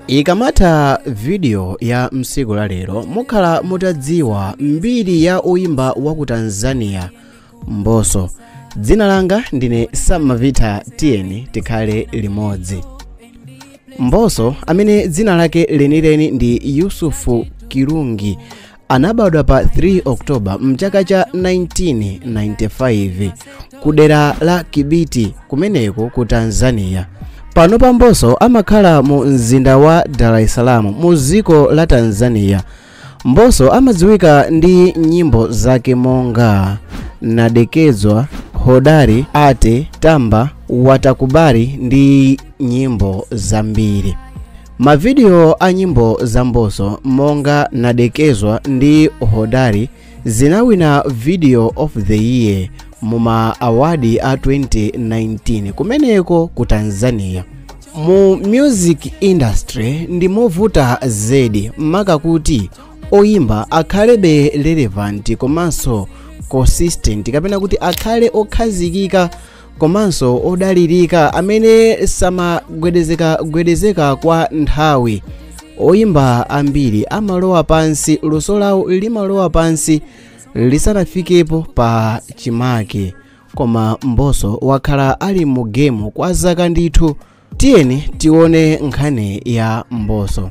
ikamatha vidiyo ya msiku la lero mukhala mutadziwa mbiri ya oyimba wa ku tanzania mbosso dzina langa ndine samavita tiyeni tikhale limodzi mbosso amene dzina lake lenileni ndi yusufu kilungi Anabadwa pa 3 Oktoba mchaka cha 1995 ku dera la Kibiti kumeneko ku Tanzania. Panopa Mbosso amakhala mu mzinda wa Dar es Salaam mu dziko la Tanzania. Mbosso amadziwika ndi nyimbo zake monga Nadekezwa, Hodari, Ate, Tamba, Watakubali ndi nyimbo zambiri. Mavidiyo a nyimbo za Mbosso monga Nadekezwa ndi Hodari zinawina Video of the Year mu ma awadi a 2019 kumeneko ku Tanzania. Mu music industry ndimovuta zedi maka kuti oyimba akhalebe relevant komanso consistent kapena kuti akhale okhazikika komanso odalirika amene samagwedezekagwedezeka kwa nthawi oyimba ambiri amalowa pansi luso lawo limalowa pansi lisanafikepo pa chimake koma mbosso wakhala ali mu gemu kwa zaka ndithu tiyeni tione nkhani ya mbosso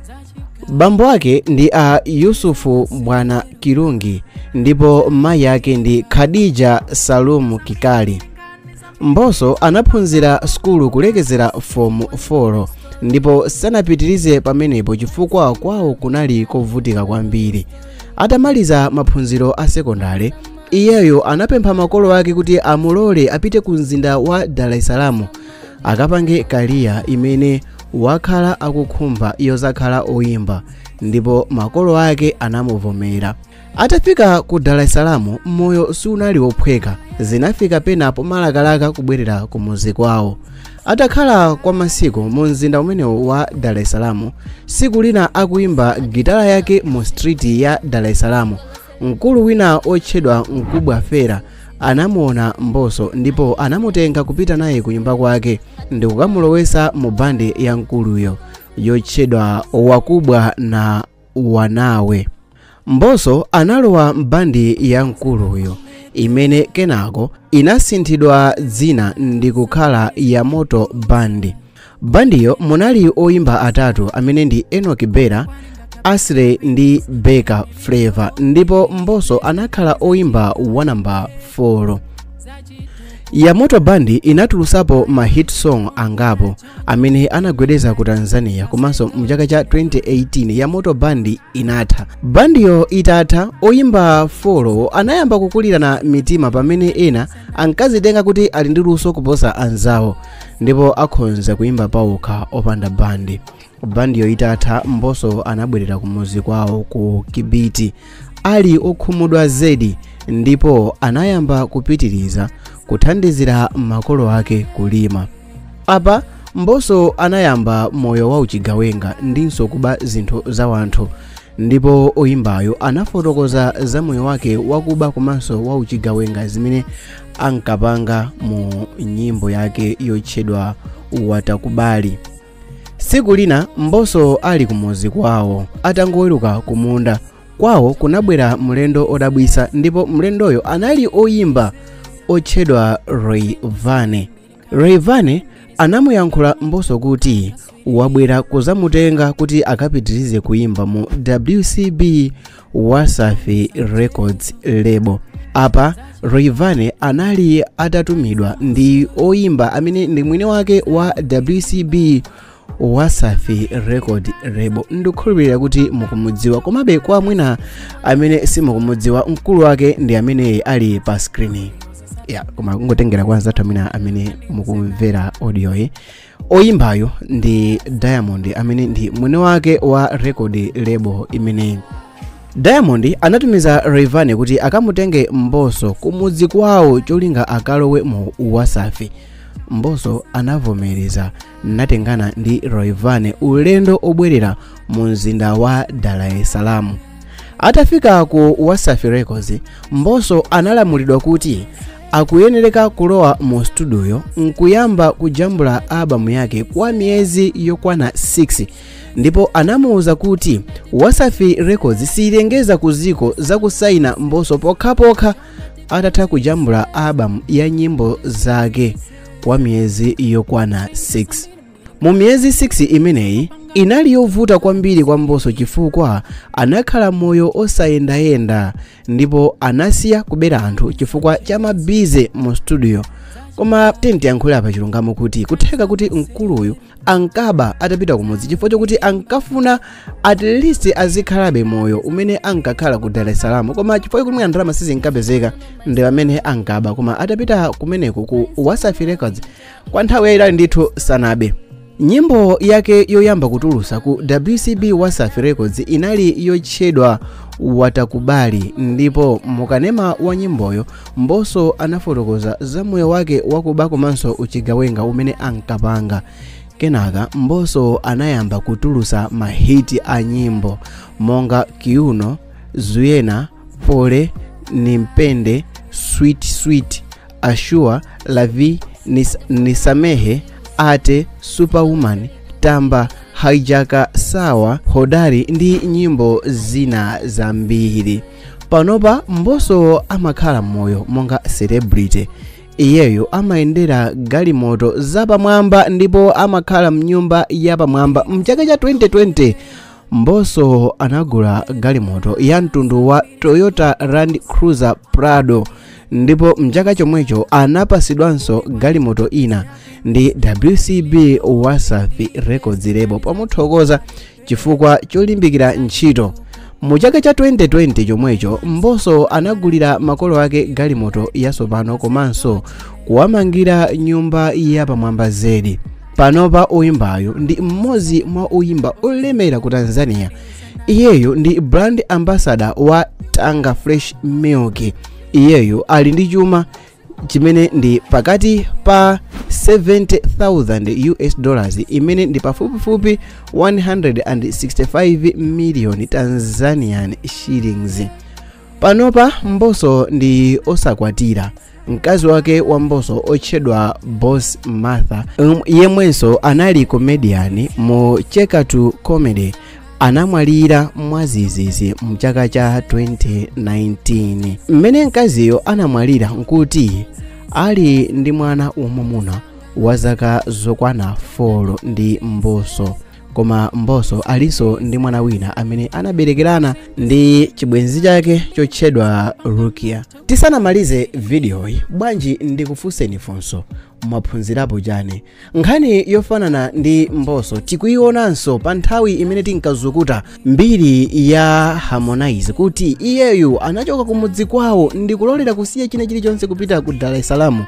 bambo ake ndi a yusufu bwana kilungi ndipo mayi ake ndi khadija salumu kikali mbosso anaphunzira sukulu kulekezera fomu 4 ndipo sanapitirize pamenepo chifukwa kwawo kunali kovutika kwambiri atamaliza maphunziro a sekondale iyeyo anapempha makolo ake kuti amulole apite ku mzinda wa dar es salaam akapange kaliya imene wakhala akukhumba yozakhala oyimba ndipo makolo ake anamuvomera atafika ku dar es salaam moyo siunali wophweka zinafika pena pomalakalaka kubwerera ku muzi kwawo atakhala kwa masiku mu mzinda umenewu wa dar es salaam siku lina akuyimba gitala yake mu street ya dar es salaam mkulu wina otchedwa mkubwa fella anamuona mbosso ndipo anamutenga kupita naye ku nyumba kwake ndikukamulowesa mu bandi ya mkuluyo yotchedwa wakubwa na wanawe mbosso analowa mbandi ya mkuluyo imene kenako inasinthidwa dzina ndikukhala yamoto bandi bandiyo munali oyimba atatu amene ndi enock bella aslay ndi beka flavour ndipo mbosso anakhala oyimba wa namba 4 yamoto band inatulusapo ma hit song angapo amene anagwedeza ku tanzania komanso mu chaka cha 2018 yamoto band inatha bandiyo itatha oyimba 4 anayamba kukulirana mitima pamene ena ankazitenga kuti ali ndi luso kuposa anzawo ndipo akhonza kuimba paokha opanda bandi bandiyo itatha mbosso anabwerera kumuzi kwawo ku kibiti ali okhumudwa zedi ndipo anayamba kupitiriza kuthandizira makolo ake kulima apa mbosso anayamba moyo wa uchigawenga ndinso kuba zinthu za wanthu ndipo oyimbayo anafotokoza za moyo wake wakuba komanso wa uchigawenga zimene ankapanga mu nyimbo yake yotchedwa watakubali siku lina mbosso ali kumuzi kwawo atangoweruka kumunda kwawo kunabwera mlendo odabwisa ndipo mlendoyo anali oyimba otchedwa rayvanny Rayvanny anamuyankhula Mbosso kuti wabwera kuzamutenga kuti akapitirize kuimba mu WCB Wasafi Records label. Apa Rayvanny anali atatumidwa ndi oimba amene ndi mwini wake wa WCB wasafi record label ndikukhulupirira kuti mukumudziwa komabe kwa amina amene simukumudziwa mkulu wake ndi amene ali pa screen yo koma kungotengera kwa anzathu amina amene mukumvera audio yi oyimbayo ndi diamond amene ndi mwini wake wa record label imeneyi diamond anatumiza rayvanny kuti akamutenge mbosso kumudzi kwawo cholinga akalowe mu wasafi mbosso anavomereza natengana ndi rayvanny ulendo obwerera mu mzinda wa dar es salaam atafika ku wasafi records mbosso analamulidwa kuti akuyenereka kulowa mu studio nkuyamba kujambula albamu yake kwa miyezi yokwana 6 ndipo anamuwuza kuti wasafi records siyilengeza kuziko za kusaina mbosso pokhapokha atatha kujambula albamu ya nyimbo zake kwa miyezi yokwana 6 mu miyezi 6 imeneyi inali yovuta kwambiri kwa mbosso chifukwa anakhala moyo osayendayenda ndipo anasiya kubera anthu chifukwa cha mabize mu studio koma tiyeni tiyankhule pa chilungamo kuti kutheka kuti mkuluyu ankaba atapita kumudzi chifukwa chokuti ankafuna at least azikhalabe moyo umene ankakhala ku dar es salaam koma chifukwa chokuti ndalama sizinkapezeka ndi pamene ankaba koma atapita kumeneko ku wasafi records kwa nthawi yayitali ndithu sanabe nyimbo yake yoyamba kutulusa ku wcb wasafi records inali yotchedwa watakubali ndipo mukanema wa nyimboyo Mbosso anafotokoza za moyo wake wakuba komanso uchigawenga umene ankapanga. Kenaka Mbosso anayamba kutulusa mahiti a nyimbo monga Kiuno, Zuyena, Pole, Nimpende, Sweet Sweet, Ashua, Lavi, Nisamehe, Ate, Superwoman, Tamba, Hijacker, Sawa, Hodari ndi nyimbo zina zambiri. panopa mbosso amakhala moyo monga celebrity iyeyo amayendera galimoto zapamwamba ndipo amakhala mnyumba yapamwamba mchaka cha 2020 mbosso anagula galimoto ya mtundu wa toyota land cruiser prado ndipo mchaka chomwecho anapasidwanso galimoto ina ndi wcb wasafi records label pomuthokoza chifukwa cholimbikira ntchito mu chaka cha 2020 chomwecho mbosso anagulira makolo ake galimoto yatsopano komanso kuwamangira nyumba yapamwamba zedi panopa oyimbayu ndi mmodzi mwa oyimba olemera ku tanzania iyeyo ndi brand ambassador wa tanga fresh milk iyeyo ali ndi chuma chimene ndi pakati pa 70,000 US dollars imene ndi pafupifupi 165 million Tanzanian shillings. Panopa Mbosso ndi osakwatira mkazi wake wa Mbosso otchedwa Boss Martha, yemwenso anali comedian mu Cheka Tu Comedy anamwalira mwazizizi mchaka cha 2019 mmene mkaziyo anamwalira nkuti ali ndi mwana wamwamuna wa zaka zokwana 4 ndi mbosso koma mbosso alinso ndi mwana wina amene anaberekerana ndi chibwenzi chake chotchedwa rukia tisanamalize vidiyoyi bwanji ndikufunseni funso mwaphunzirapo chani nkhani yofanana ndi mbosso tikuionanso pa nthawi imene tinkazukuta mbiri ya harmonize kuti iyeyu anachoka kumudzi kwawo ndi kulolera kusiya china chilichonse kupita ku dar es salaam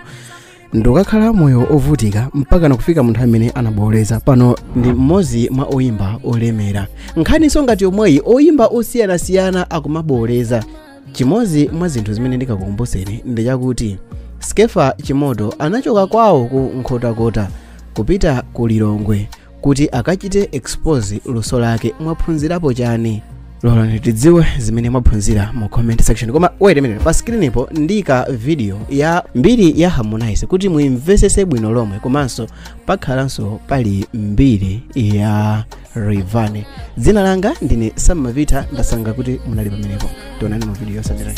ndikakhala moyo ovutika mpaka nakufika munthu amene anaboleza pano ndi mmodzi mwa oyimba olemera nkhaninso ngati yomweyi oyimba osiyanasiyana akumaboleza chimodzi mwa zinthu zimene ndingakukumbuseni ndi chakuti skefa chimoto anachoka kwawo ku nkhotakota kupita ku lilongwe kuti akachite expose luso lake mwaphunzirapo chani lolani tidziwe zimene mwaphunzira mu comment section koma wait a minute pa screenipo ndika video ya mbiri ya harmonize kuti muimvesese bwino lomwe komanso pakhalanso pali mbiri ya rayvanny dzina langa ndine sam mavita ndasangalala kuti munali pamenepo tionane mu video yotsatirayi